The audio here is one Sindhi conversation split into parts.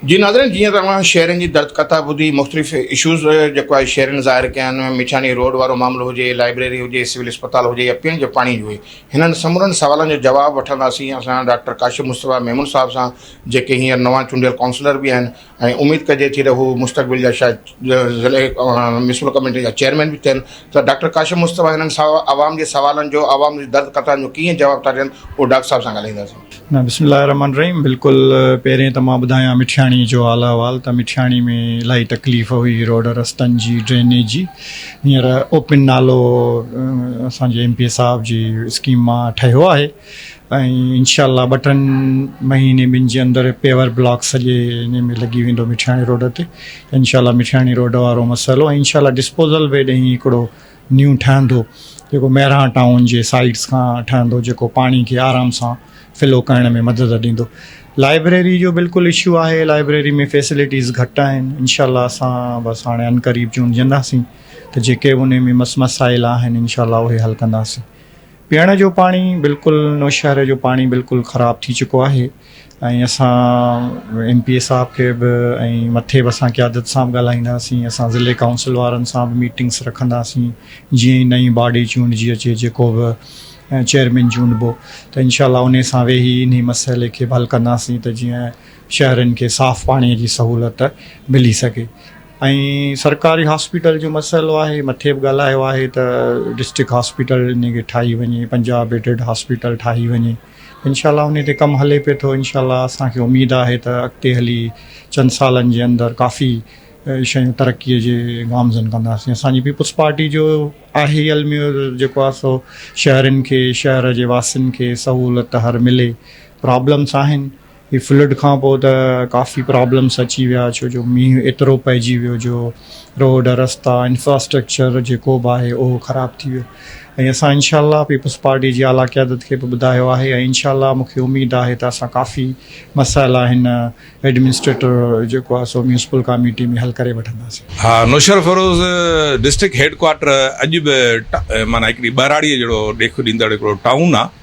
جي ناظرين جيئن ته اوهان شهرين جي درد ڪٿا ٻڌي مختلف اشوز جيڪو آهي شهرين ظاهر ڪيا آهن مٺياڻي روڊ وارو معاملو هجي لائبريري هجي سول اسپتال هجي يا پيئڻ جي پاڻي جو هنن سمورن سوالن جو جواب وٺنداسين اسان ڊاڪٽر ڪاشف مصطفيٰ ميمڻ صاحب سان جيڪي هينئر نوان چونڊيل ڪائونسلر به آهن ۽ اميد ڪجي ٿي ته هو مستقبل جا شايد ضلعي ميونسپل ڪميٽي جا چيئرمين به ٿين ته ڊاڪٽر ڪاشف مصطفيٰ هنن عوام جي سوالن جو عوام جي درد قطعن جو ڪيئن جواب ٿا ڏين اهو ڊاڪٽر صاحب سان ڳالهائينداسين. بسم الله الرحمٰن الرحيم بلڪل پهرين ته مان ٻڌايان مٺياڻي جو حال احوال ته مٺياڻي ۾ الاهي تڪليف هئي روڊ رستن جي ڊرينيج جي هينئر اوپن نالو اسان جي ايم پي اي صاحب جي اسڪيم مان ٺهيو آهي ۽ انشاء الله ٻه ٽن مهيني ٻن جي اندر پيور بلاڪ سڄي ان ۾ لڳي ويندو مٺياڻي روڊ تي انشاء الله مٺياڻي روڊ وارو مسئلو ۽ انشاء الله ڊسپوزل وي ڏينهن هڪڙو نيو ٺهندو جيڪو مهراڻ ٽائون جي سائيڊس کان ٺهندو جيڪو پاڻي کي آرام سان فلو ڪرڻ ۾ مدد ڏيندو لائبريري جو بلڪل اشو آهي لائبريري ۾ فيسلٽيز گهٽ آهن انشاء الله اسان بس هاڻي ان قريب چونڊجنداسين ته جيڪي ان ۾ مس مسائل آهن انشاء الله اهي حل ڪنداسين پيئڻ جو پاڻي بلڪل نوشهري جو پاڻي بلڪل خراب ٿي چڪو آهي ۽ اسان ايم پي اي صاحب کي به ۽ مٿي به اسان قيادت سان ڳالهائينداسين اسان ضلعي ڪائونسل وارن سان به ميٽنگس رکنداسين جي نئين باڊي چونڊجي اچي جيڪو به چيئرمين چونڊبو ته انشاء الله انهي سان ويهي انهي مسئلي کي به حل ڪنداسين ته جيئن شهرين کي صاف پاڻي جي سهولت ملي سگهي ۽ سرڪاري هاسپيٽل جو مسئلو آهي مٿي به ڳالهايو آهي ته ڊسٽرڪٽ هاسپيٽل ان کي ٺاهي وڃي پنجاهه بيڊڊ هاسپيٽل ٺاهي وڃي انشاء الله ان تي ڪم هلي پئي ٿو انشاء الله اسان کي اميد آهي ته اڳتي هلي چند سالن جي اندر ڪافي شيون ترقي جي گامزن ڪنداسين اسانجي پيپلز پارٽي جو آهي علميو جيڪو آهي سو شهرين کي شهر جي واسين کي سهولت هر ملي پرابلمس آهن هي فلڊ کان پوء ته ڪافي پرابلمس اچي ويا ڇو جو مينهن ايترو پئجي ويو جو روڊ رستا انفراسٽرڪچر جيڪو به آهي اهو خراب ٿي ويو ۽ اسان انشاء الله پيپلز پارٽي جي اعليٰ قيادت کي به ٻڌايو آهي ۽ انشاء الله مون کي اميد آهي ته اسان ڪافي مسائل آهن ايڊمنسٽريٽر جيڪو آهي سو ميونسپل ڪاميٽي ۾ حل ڪري وٺنداسين. ها نوشهرفروز ڊسٽرڪٽ هيڊ ڪوارٽر اڄ به معنيٰ هڪڙي ٻهراڙيء جهڙو ڏيک ڏيندڙ هڪڙو ٽائون آهي.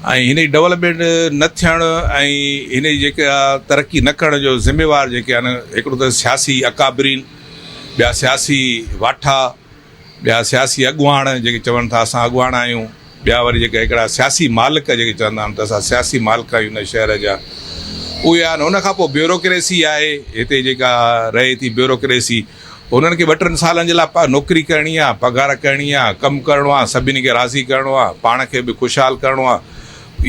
۽ هن جي ڊولپمينٽ نه ٿيڻ ۽ هن جي جيڪا ترقي نه ڪرڻ جو ذميوار جيڪي آهن هڪڙو ته سياسي اڪابرين ٻيا سياسي واٺا ٻيا سياسي اڳواڻ جيڪي چون ٿا اسان اڳواڻ آهيون ٻيا وري جيڪا هڪڙا سياسي مالڪ جيڪي چوندا آهن ته اسان سياسي مالڪ آهيون هن شهر جا اهي آهن ان کان پوء بيوروڪريسي آهي هتي جيڪا رهي ٿي بيوروڪريسي انهن کي ٻه ٽن سالن جي لاء نوڪري ڪرڻي آهي، پگهار ڪرڻي آهي، ڪم ڪرڻو آهي، سڀني کي راضي ڪرڻو آهي، پاڻ کي به خوشحال ڪرڻو آهي.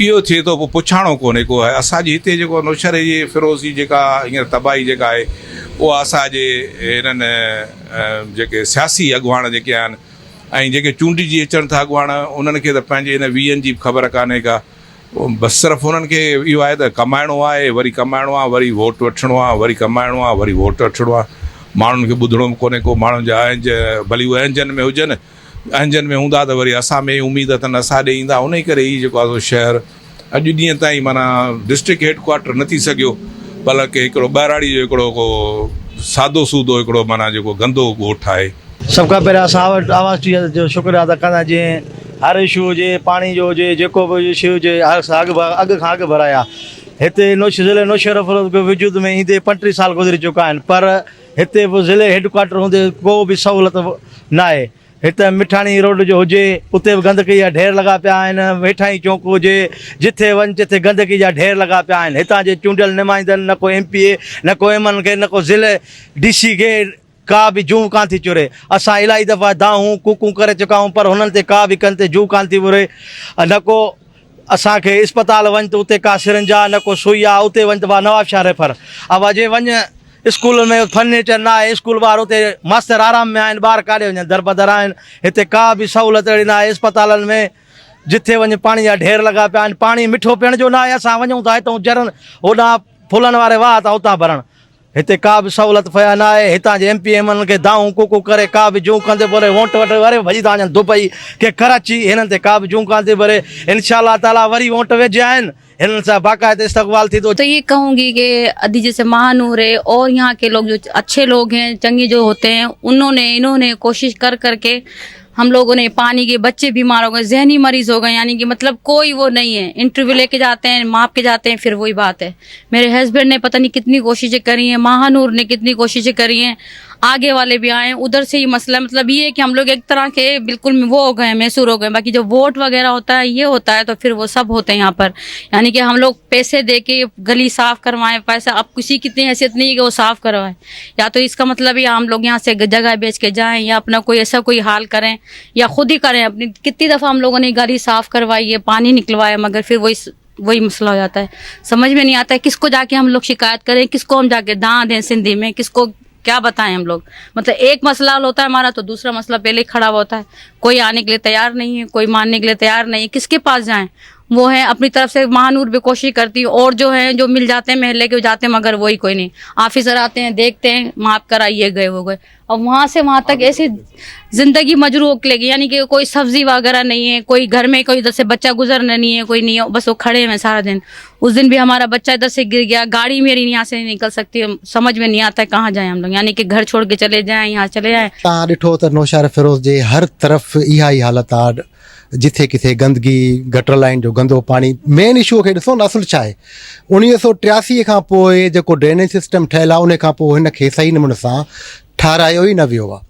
اهو ٿئي ٿو، پوء پڇاڻو ڪونهي ڪو. اسان جي هتي جيڪو نوشهري جي فيروز جي جيڪا هينئر تباهي جيڪا آهي، اها اسان جي هنن جيڪي سياسي اڳواڻ جيڪي آهن ۽ جيڪي چونڊجي اچن ٿا اڳواڻ، انهن کي ته پنهنجي هن ويهن جي به خبر ڪانهي ڪا. بس صرف انهن کي اهو آهي ته ڪمائڻو آهي وري ڪمائڻو آهي وري ووٽ وٺڻو آهي وري ڪمائڻو آهي وري ووٽ وٺڻو آهي ماڻهن کي ٻڌڻو به ڪونهي ڪو ماڻهن جا اهنج ڀلي هو اهنجن ۾ هجن اهنجن ۾ هوندا ته وري اسان ۾ اميد اٿن اسان ڏي ايندا انهي ڪري هي جيڪو آهي شهر اڄ ڏينهن تائين معنيٰ ڊسٽرڪٽ هيڊ ڪوارٽر نه ٿي سگهيو بلڪه هڪڙو ٻهراڙي جو هڪڙو ڪو سادو سودو هڪڙو معنيٰ جيڪو گندو ڳوٺ آهي. سڀ کان پهريان اسان آواز ٽي جو شڪريا ادا ڪندا جنهن هر اشو هجي، پاڻي جو هجي، جيڪو به اشو هجي، اڳ کان اڳ ڀرايا. هتي ضلعي نوشهروفروخت به وجود ۾ ايندي پنٽيهه سال گذري چڪا آهن پر هتي به ضلعي هيڊڪوارٽر هوندي ڪو به سهولت ناهي. هتي مٺاڻي روڊ جو هجي اتي به گندڪي جا ڍير لڳا پيا آهن، ويٺائي چونڪ هجي، جٿي وڃ تٿي گندڪي جا ڍير لڳا پيا آهن. هتان جي چونڊيل نمائندن نه ڪو ايم پي اي نه ڪو ايم اين اي نه ڪو ضلعي ڊي سي ڪي ڪا به جون ڪانه ٿي چري. اسان الاهي دفعا دانهون، ڪوڪون ڪري چڪا آهيون پر هنن تي ڪا به ڪن تي جون ڪانه ٿي وري. نه ڪو اسان کي اسپتال وڃ ته اتي ڪا سرنج آهي نه ڪو سوئي آهي اتي وڃ ته وا نواب شاهه ريفر. اوا جي وڃ اسڪولن ۾ فرنيچر نه آهي اسڪول ٻار اتي ماستر آرام ۾ آهن ٻار ڪاڏي وڃن دربدر آهن. هتي ڪا به سهولت اهڙي نه آهي اسپتالن ۾ جٿي وڃ پاڻي جا ڍير لڳا پيا آهن پاڻي مٺو پيئڻ جو نه آهي اسان وڃون ٿا هتئون جرن هوڏانهن ڦلن واري واهه تان اتان ڀرڻ. هتي ڪا به سهولت فيا نه آهي هتان جي M P M N N کي دانهون ڪوڪو ڪري ڪا به جون ڪندي بولي وونٽ وٽ وري ڀڄي ٿا وڃن دبئي ڪي ڪراچي هنن تي ڪا به جون ڪاندي وري انشاء الله تعالي وري وونٽ ويجهي آهن هنن سان باقاعده استقبال ٿيندو. تو يي ڪهون گي ڪي ادي جيسي مهانور هي اور يهان ڪي لوگ جو اڇي لوگ هين چڱي جو هوتي هين انهون ني انهون ني ڪوشش ڪر ڪر ڪي ھم لوگو ني پاني گي بچي بيمار ھو گئي ذھني مريض ھو گئي يعني ڪي مطلب ڪوئي وو نھي ھي انٽرويو لي ڪي جاتي ھين ماپ ڪي جاتي ھين فر وھي بات ھي ميري ھسبينڊ ني پتا نھي ڪتني ڪوششي ڪري ھين ماھانور ني ڪتني ڪوششي ڪري ھين آگي والي بي آئي ادھر سي ھي مسلا مطلب يي ھي ڪي ھم لوگ ايڪ طرح ڪي بلڪل وو ھو گئي ميسور ھو گئي باقي جو ووٽ وغيره ھوتا ھي يي ھوتا ھي تو فر وو سب ھوتي يھان پر يعني ڪي ھم لوگ پيسي دي ڪي گلي صاف ڪروائي پيسا اب ڪسي ڪي اتني حيثيت نھي ھي ڪي وو صاف ڪروائي يا تو اس کا مطلب يا هم لوگ يهان سي جگهه بيچ ڪي جائين يا اپنا ڪوئي ايسا ڪوئي حال ڪرين يا خود هي ڪرين اپني ڪتني دفعه هم لوگون ني گالي صاف ڪروايي هي پاني نڪلوايا مگر ڦر وهي وهي مسئلا هو جاتا هي سمجهه مي نهي آتا هي ڪس ڪو جا ڪي هم لوگ شڪايت ڪرين ڪس ڪو هم جا ڪي دان دين سنڌي مي ڪس ڪو ڪيا بتاين هم لوگ مطلب ايڪ مسئلا حل هوتا هي همارا تو دوسرا مسئلا پهلي هي کڙا هوتا هي ڪوئي آني ڪي ليه تيار نهي هي ڪوئي مانني ڪي ليه تيار نهي هي ڪس ڪي پاس جائين وو هين اپني طرف سي مهانور به ڪوشش ڪرتي هون اور جو هين جو مل جاتي هين مهلي ڪي جاتي هين مگر ووئي ڪوئي نهين آفيسر آتي هين ديکتي هين ماپ ڪرا يي گئي وو گئي اور وهان سي وهان تڪ ايسي زندگي مجروح لگي يعني ڪي ڪوئي سبزي واگره نهين هين ڪوئي گهر مين ڪوئي دسي بچا گزر نهين هين ڪوئي نهين بس وو کڙي هين سارا دن اس دن به همارا بچا دسي گر گيا گاڙي ميري نهين سي نهين نڪل سڪتي سمجھ مين نهين آتا هين ڪهان جائين هم لوگ يعني ڪي گهر ڇوڙ ڪي چلي جائين يهان چلي جائين تان ڏٺو ته نوشهر فيروز جي هر طرف اها ئي حالت آ جٿي ڪٿي گندگي، گٽر لائين جو گندو پاڻي مين اشو کي ڏسو نه اصل ڇا آهي. اوڻيهه سؤ ٽياسي کان پوء جيڪو ڊرينيج سسٽم ٺهيل آهي ان کان پوء هن کي صحيح نموني سان ٺهرايو ئي نه ويو آهي.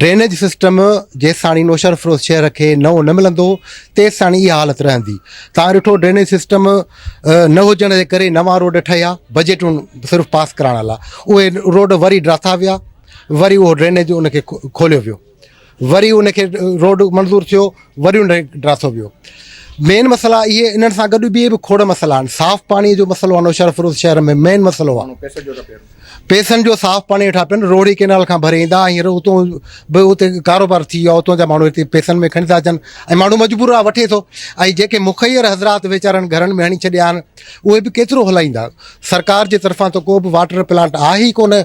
ڊرينيج سسٽم جيستاڻي نوشهرفروز شهر کي نئون نه ملندو تيستاڻي اها حالت رهندي. توهان ڏٺو ڊرينيج سسٽم نه هجڻ جي ڪري نوان روڊ ٺهيا بجيٽون صرف پاس ڪرائڻ لاء اهي روڊ وري ڊاٿا ويا وري اهو ڊرينيج ان کي کوليو ويو. وري ان کي روڊ منظور ٿيو وري ان ڊراسو ويو مين مسئلا اهي انهن سان گڏ ٻي به کوڙ مسئلا آهن صاف پاڻي جو مسئلو آنو شهر فروز شهر ۾ مين مسئلو آهي پيسن جو صاف پاڻي وٺا پين روهڙي ڪينال کان ڀري ايندا هينئر اتو به اتي ڪاروبار ٿي ويو اتو جا ماڻهو هتي پيسن ۾ کڻي ٿا اچن ۽ ماڻهو مجبور آهي وٺي ٿو ۽ جيڪي مخير حضرات ويچارن گهرن ۾ هڻي ڇڏيا آهن اهي به ڪيترو هلائيندا سرڪار جي طرفان ته ڪو به واٽر پلانٽ آهي ئي ڪونه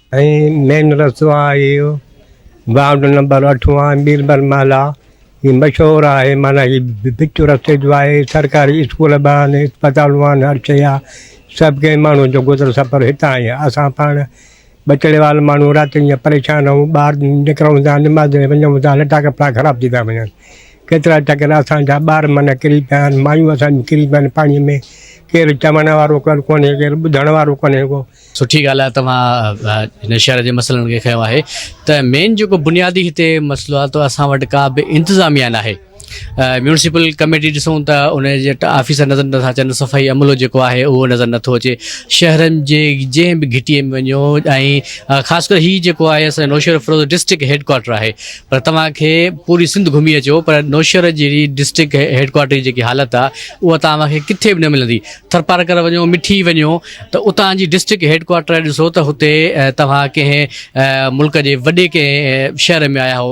۽ مين رستو آهي اهو وارڊ نمبر اٺون آهي ميربل محلا هي مشهور آهي معنيٰ هي وچ رستي جو آهي سرڪاري اسڪول به آهن اسپتالون آهن هر شيء آهي سڀ ڪنهن ماڻهو جو گذر سفر هتان آهي اسان پاڻ بچڙي وال ماڻهو رات ڏينهن پريشان آهيون ٻار نڪرون ٿا نماز ۾ وڃون ٿا لٽا ڪپڙا خراب ٿي ٿا وڃن ڪيترا ٽڪر اسانجا ٻار معنيٰ ڪري پيا آهن مايون اسان جون ڪري پيا آهن پاڻي ۾ ڪير چوڻ وارو ڪير ڪونهي ڪير ٻڌڻ وارو ڪونهي ڪو سٺي ڳالهه آهي توهان هن شهر جي مسئلن کي کنيو آهي ته مين جيڪو بنيادي هتي مسئلو آهي ته اسان وٽ ڪا به انتظاميا ناهي ميونسپل ڪميٽي ڏسون ته ان جي آفيسر نظر نٿا اچن صفائي عملو جيڪو آهي اهو نظر نٿو اچي شهرن جي جنهن به گهٽي ۾ وڃو ۽ خاص ڪري هي جيڪو آهي اسان Naushahro Feroze district head quarter آهي پر توهان کي پوري سنڌ گهمي اچو پر نوشهر جي ڊسٽرڪٽ هيڊ ڪوارٽر جي جيڪي حالت آهي اها توهان کي ڪٿي به نه ملندي ٿرپارڪر وڃو مٺي وڃو ته اتان جي ڊسٽرڪٽ هيڊ ڪوارٽر ڏسو ته هتي توهان ڪنهن ملڪ جي وڏي ڪنهن شهر ۾ آيا هئو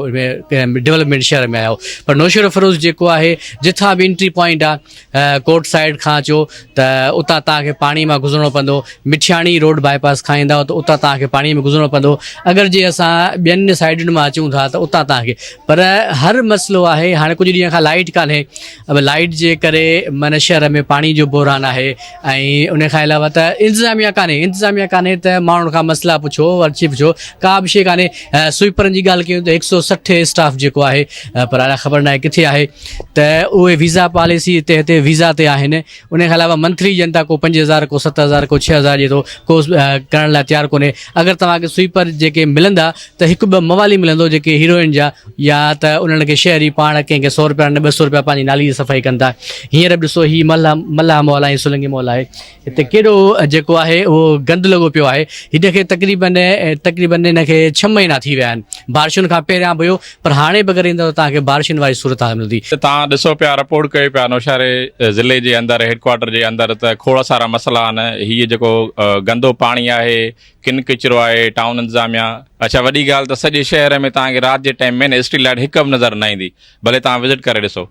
ڊولپمينٽ شهر ۾ آيا هئو پر نوشهرو فيروز جيڪو آهي جتان به انٽري پوائنٽ آهي ڪورٽ سائيڊ کان اچو ته اتان توهان کي پاڻي مان گذرڻو پوندو مٺياڻي روڊ باء پاس کان ايندا ته اتان توهان کي پاڻي ۾ گذرڻو پوندو اگر جي اسان ٻين سائيڊن مان اچون ٿا ته اتان توهان کي پر هر مسئلو آهي هاڻي ڪجهه ڏينهن کان لائيٽ ڪانهي لائيٽ جي ڪري معنيٰ شهر ۾ پاڻي جو بحران آهي ۽ ان کان علاوه ته انتظاميه ڪانهي انتظاميه ڪانهي ته ماڻهن کان مسئلا پڇو ورڇي پڇو ڪا به شيء ڪانهي سوئپرن جي ڳالهه ڪيون ته هڪ سؤ سٺ اسٽاف جيڪو آهي پر الاء خبر ناهي ڪٿي آهي ته اهي ويزا پاليسي تي هتي ويزا تي آهن ان کان علاوه منٿلي ڏين ٿا ڪو پنج هزار ڪو ست هزار ڪو ڇهه هزار ڏي ٿو ڪو ڪرڻ لاء تيار ڪونهي اگر توهان کي سوئپر جيڪي ملندا ته هڪ ٻه موالي ملندو جيڪي هيروئن جا يا ته انهن کي شهر ئي پاڻ ڪنهن کي سو رپيا نه ٻه سو رپيا پنهنجي نالي جي صفائي ڪن ٿا هينئر به ڏسو هي ملهه ملاح مال ۽ سولنگي مال آهي هتي ڪيڏو جيڪو آهي اهو گند لڳو پيو آهي هن کي تقريبن تقريبن هن کي ڇهه مهينا ٿي ويا آهن بارشن کان پهريان به هيو پر هاڻي به اگر ايندو ته توهان کي بارشن واري صورت حال ملندي ته توهان ڏسو پيا رپورٽ ڪيو پيا نوشهري ضلعي جي اندر هيڊ ڪوارٽر جي اندر ته کوڙ سارا مسئلا آهن هي جيڪو گندو پاڻي آهي ڪن ڪچرو آهي ٽائون انتظاميا. اڇا وڏي ڳالهه ته سڄي شهر ۾ توهان کي رات جي ٽائيم ۾ اسٽريٽ لائيٽ هڪ به نظر نه ايندي ڀلي توهان وزٽ ڪري ڏسو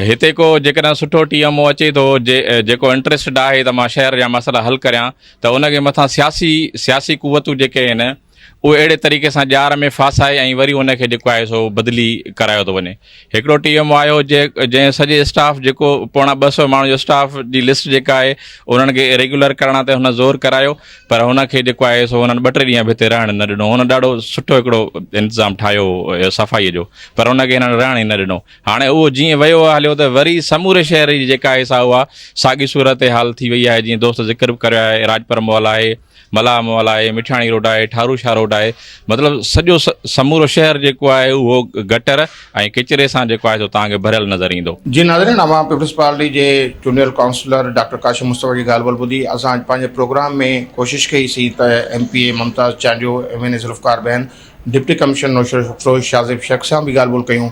هتي ڪو جيڪڏهن سٺو ٽي ايم او اچي ٿو جيڪو انٽريسٽيڊ آهي ته مان شهر جا مسئلا حل ڪريان ته ان کي مٿان سياسي سياسي قوتون جيڪي آهن اهي اهڙي طريقي سان ڄار ۾ ڦاسائي ۽ وري ان کي جيڪو آهي سو بدلي ڪرايو ٿو وڃي هڪڙو ٽي ايم او آيو جنهن سڄي اسٽاف جيڪو پوڻا ٻه سؤ ماڻهن جو اسٽاف جي لسٽ جيڪا آهي انهن کي ريگيولر ڪرڻ تي هن زور ڪرايو پر هن کي جيڪو آهي سو هنن ٻه ٽي ڏينهن به هتي رهڻ نه ڏنو هن ڏاڍو سٺو هڪڙو انتظام ٺاهيو صفائي جو پر هن کي هنن رهڻ ئي نه ڏنو هاڻي اهو جيئن ويو هليو ته وري سموري شهر جي جيڪا آهي سا اها ساڳي صورتحال ٿي وئي آهي جيئن دوست ذڪر به ڪريو آهي راڄپر مال آهي ملاح مولاحي، مٺياڻي روڊ آهي، ٺارو شاهه روڊ آهي، مطلب سڄو سمورو شهر جيڪو آهي اهو گٽر ۽ ڪچري سان جيڪو آهي سو توهان کي ڀريل نظر ايندو. جي ناظرين اوهان پيپلز پارٽي جي چونڊيل ڪائونسلر ڊاڪٽر ڪاشف مصطفيٰ جي ڳالهه ٻولهه ٻڌي اسان اڄ پنهنجي پروگرام ۾ ڪوشش ڪئي سي ته M P A Mumtaz Chandio, M N A Zulfiqar been, deputy commissioner Naushahro Feroze Shahzeb Sheikh سان به ڳالهه ٻولهه ڪيون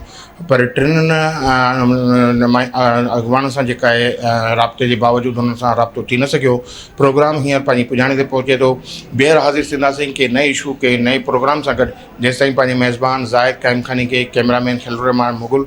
پر ٽنهن اڳواڻن سان جيڪا آهي رابطي جي باوجود هنن سان رابطو ٿي نه سگهيو پروگرام هينئر پنهنجي پڄاڻي تي پهچي ٿو ٻيهر حاضر ٿينداسين ڪي نئين اشو ڪي نئين پروگرام سان گڏ جيستائين پنهنجي ميزبان زاهد قائمخاني کي ڪيمرا مين خليل الرحمان مغل